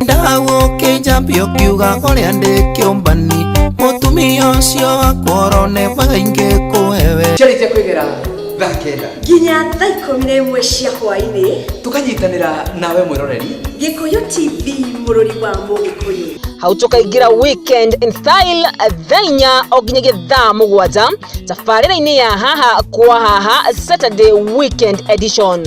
ndagũkĩnjambia ũkiuga ũrĩa ndĩ kĩũmbani mũtumia ũcio wakworo nebaga ingĩ kũhewe ciarĩkia kwĩgera thaa kenda nginya thaa ikũmi na ĩmwe cia hwaĩ-inĩ tũkanyitanĩra nawe mwĩroreri gĩkũyũ tv mũrũri wa mũgĩkũyũ hau tũkaingĩra weekend in style thaa inya o nginyagia thaa mũgwanja tabarĩra-inĩ ya haha kwa haha saturday weekend edition